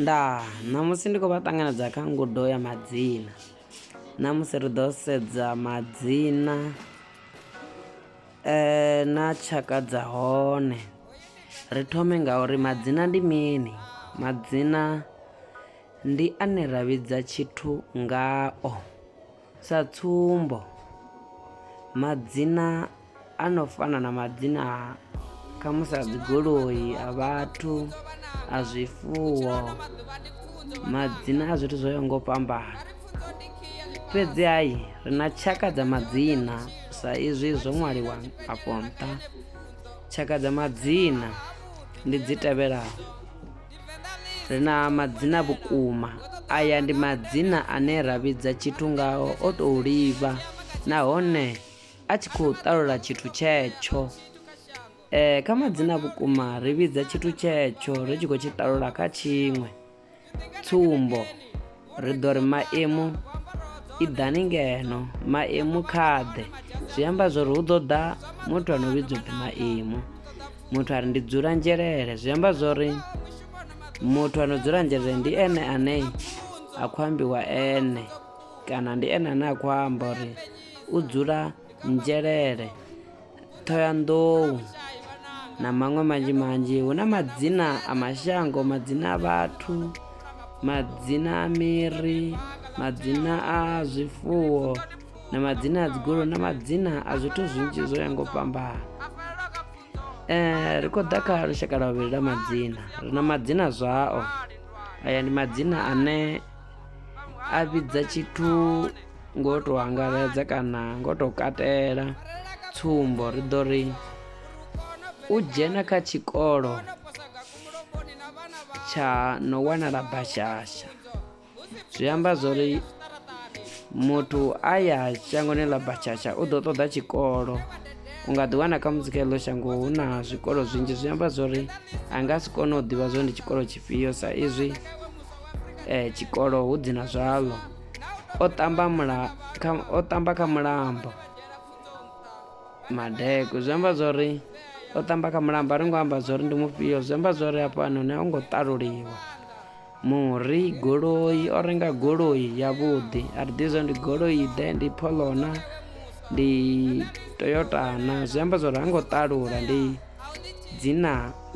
Ndaa, ṋamusi ndi khou vha ṱanganedza kha ngudo ya madzina. Ṋamusi ri ḓo sedza madzina eh, na tshaka dza hone. Ri thome nga uri madzina ndi mini? Madzina ndi ane ra vhidza tshithu ngao. Sa tsumbo, madzina a no fana na madzina khamusi a dzigoloi a vhathu a zwifuwo madzina a zwithu zwo yaho nga u fhambana fhedzi hai ri na tshaka dza madzina sa izwi zwo ṅwaliwa afho nṱha tshaka dza madzina ndi dzi tevhelaho Ri na madzina vhukuma. Aya ndi madzina ane ra vhidza tshithu ngao o tou livha nahone a tshi khou ṱalula tshithu tshetsho. Eh, kha madzina vhukuma ri vhidza tshithu tshetsho ri tshi khou tshi ṱalula kha tshiṅwe. Tsumbo, ri ḓo ri maimu i ḓani ngeno maimu kha ḓe zwi amba zwori hu ḓo ḓa muthu ano vhidzwa upfhi maimu muthu a ri ndi dzula nzhelele zwi amba zwori muthu ano dzula nzhelele ndi ene ane a khou ambiwa ene kana ndi ene ane a khou amba uri u dzula nzhelele thoyandou na maṅwe manzhi manzhi hu na madzina a mashango madzina a vhathu madzina a miri madzina a zwifuwo na madzina a dzigolo na madzina a zwithu zwinzhi zwo ya ngo fhambana um ri khou ḓa kha lushaka lwa vhuvhili lwa madzina ri na madzina zwao aya ndi madzina ane a vhidza tshithu ngo to angaredza kana ngo to katela tsumbo ri ḓo ri u dzhena kha tshikolo tsha no wanala bashasha zwi amba zwori muthu a ya shangoni ḽa bashasha u ḓo ṱoḓa tshikolo u nga ḓiwana kha musi kha iḽo shango hu na zwikolo zwinzhi zwi amba zwori a nga si kone u ḓivha zwori ndi tshikolo tshifhio sa izwi eh, tshikolo hu dzina zwaḽo o ṱamba mula kha, o ṱamba kha mulambo madeko zwi amba zwori o ṱamba kha mulambo a ri ngo amba zwori ndi mufhio zwi amba zwori hafhanoni a u ngo ṱaluliwa muri goloi o renga goloi yavhuḓi a ri ḓi zwa ndi goloi ḓe ndi pholona ndi toyotana zwi amba zwori ha ngo ṱalula ndi dzina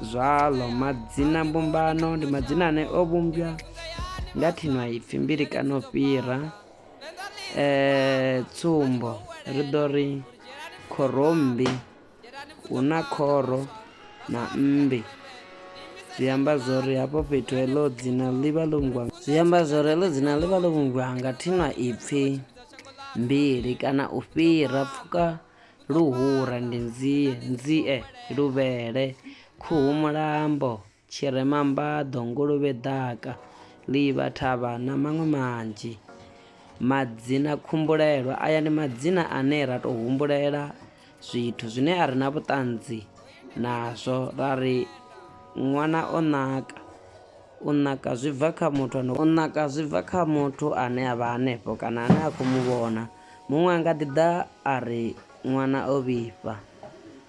zwaḽo madzina mbumbano ndi madzina ane o vhumbwa nga thinwaipfi mbili kana u fhira um tsumbo ri ḓo ri khorommbi hu na khoro na mmbi zwi amba zwo ri hafho fhethu heḽo dzina ḽi vha ḽo vhungwa zwi amba zwo ri heḽo dzina ḽi vha ḽo vhungwa nga thinwaipfi mbili kana u fhira pfuka Luhura ndi nzie, nzie, luvhele, khuhu mulambo, tshirema mbaḓo, nguluvhe ḓaka, ḽivha, thavha na maṅwe manzhi. Madzina khumbulelwa, aya ndi madzina ane ra tou humbulela zwithu zwine a ri na vhuṱanzi nazwo ra ri ṅwana o naka. U naka zwi bva kha muthu, u naka zwi bva kha muthu ane a vha hanefho kana ane a khou mu vhona. Muṅwe a nga ḓi ḓa a ri, Ṅwana o vhifha.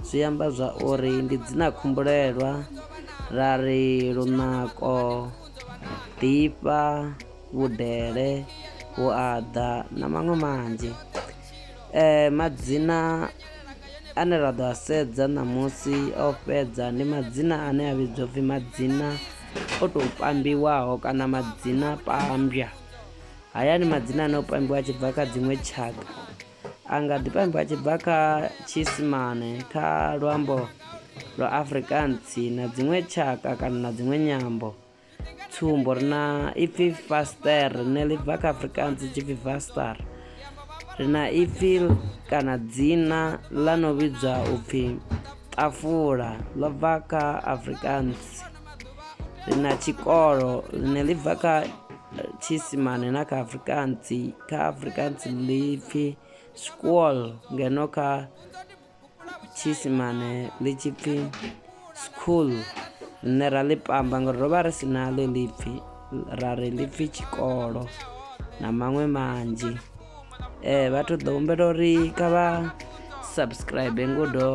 Zwi amba zwa uri ndi dzina-khumbulelwa, ra ri lunako, ḓifha, vhudele, vhuaḓa na maṅwe manzhi. E, madzina ane ra ḓo a sedza ṋamusi a u fhedza ndi madzina ane a vhidzwa pfi madzina o tou pambiwaho kana madzina pambwa. Haya ni madzina ane o pambiwa a tshi bva kha dziṅwe tshaka. A nga ḓi pambiwa a tshi bva kha Tshiisimane, kha luambo lwa Afrikaans na dziṅwe tshaka kana na dziṅwe nyambo. Tsumbo, ri na ipfi faster rine ḽi bva kha Afrikaans tshi pfi vaster. Ri na ipfi kana dzina ḽa no vhidzwa u pfi ṱafula ḽo bva kha Afrikaans. ri na tshikolo ḽine ḽi bva kha tshiisimane na kha afrikaans kha afrikaans ḽi pfhi school ngeno kha tshiisimane ḽi tshi pfhi school rine ra ḽi pamba ngori ro vha ri si na ḽo ḽi pfhi ra ri ḽi pfhi tshikolo na maṅwe manzhi um vhathu ḓo humbela uri kha vha subscribe ngudo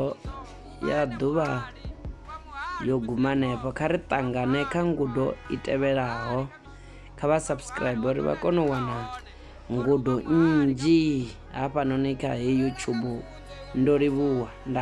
ya ḓuvha yo guma hanefho kha ri ṱangane kha ngudo i tevhelaho kha vha subscribe uri vha kone u wana ngudo nnzhi hafhanoni kha heyi youtube ndo livhuwa nda